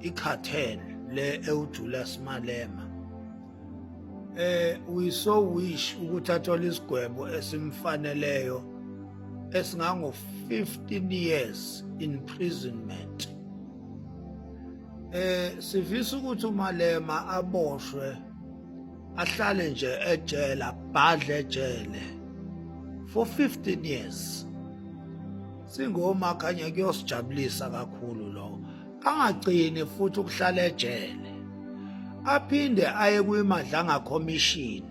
icartel le ewuJulius Malema eh we so wish ukuthi athole isigwebo esimfaneleyo esingango 15 years imprisonment eh sivisa ukuthi uMalema aboshwe ahlale nje ejele abhadle ejele for 15 years singoma khanye kuyosijabulisa kakhulu lokho angagcini futhi ukuhlala ejele aphinde aye kwimadlanga commission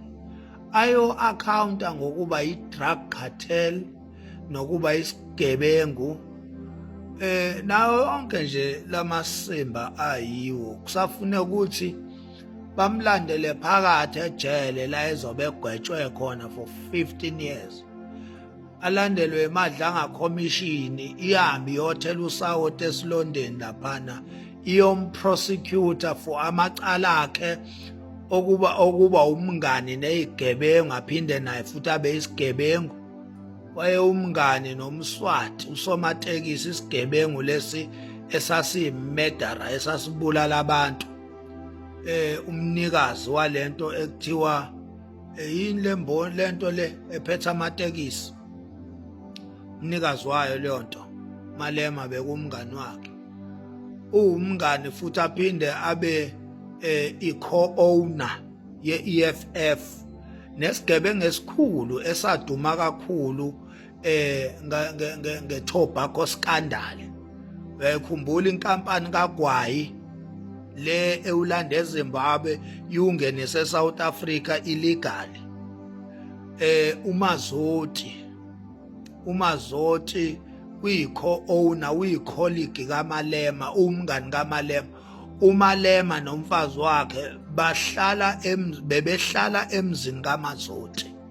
ayo accounta ngokuba i-drug cartel nokuba isigebengu eh nawo onke nje lamasimba ayiwo kusafune ukuthi bamlandele phakathi ejele la ezobe egwetshwe khona for 15 years alandelwe emadlanga khomishini ihambe iyothela usawoti esilondeni laphana iyomprosecutor for amacala akhe okuba okuba umngani neyigebengu aphinde naye futhi abe isigebengu waye umngani nomswati usomatekisi isigebengu lesi esasiyimedara esasibulala abantu eh umnikazi walento ekuthiwa eyini le mboni lento le ephetha amatekisi umnikazi wayo leyo nto malema bekumngani wakhe uwumngani futhi aphinde abe eh, i-co-owner ye-EFF nesigebengu esikhulu esaduma kakhulu eh ngetobacco scandal uyayikhumbula inkampani kagwayi le ewulanda ezimbabwe iwungenise esouth africa illegal eh umazoti umazoti uyikho owner uyicolleague kamalema umngani kamalema umalema nomfazi wakhe bahlala bebehlala emzini kamazoti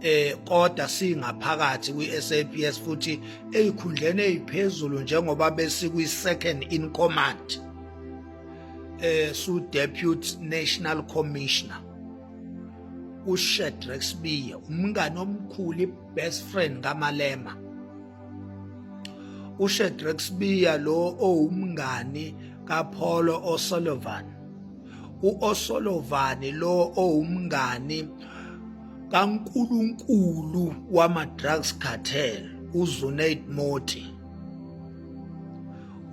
eh kodwa singaphakathi kwiSAPS futhi ezikhundleni eziphezulu njengoba besikwi second in command eh su deputy national commissioner uShedrex Biya umngane omkhulu best friend kaMalema uShedrex Biya lo owumngani kaPaulo O'Sullivan uO'Sullivan lo owumngani kankulunkulu wama-drugs cartel uzunaid moti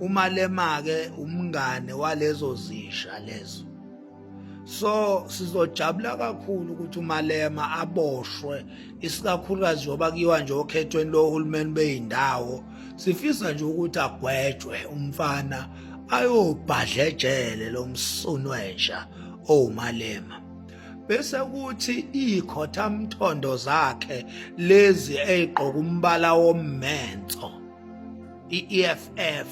umalema-ke umngane walezo zisha lezo so sizojabula kakhulu ukuthi umalema aboshwe isikakhulukazi njengoba kuyiwa nje okhethweni lohulumeni beyindawo sifisa nje ukuthi agwetshwe umfana ayobhadla ejele lomsunu wenja owumalema bese kuthi ikhothamthondo zakhe lezi eyigqoka umbala wommenso i-EFF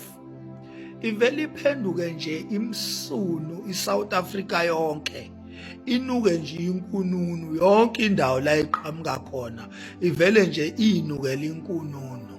ivele iphenduke nje imsunu iSouth Africa yonke inuke nje inkununu yonke indawo la iqhamuka khona ivele nje inukela inkununu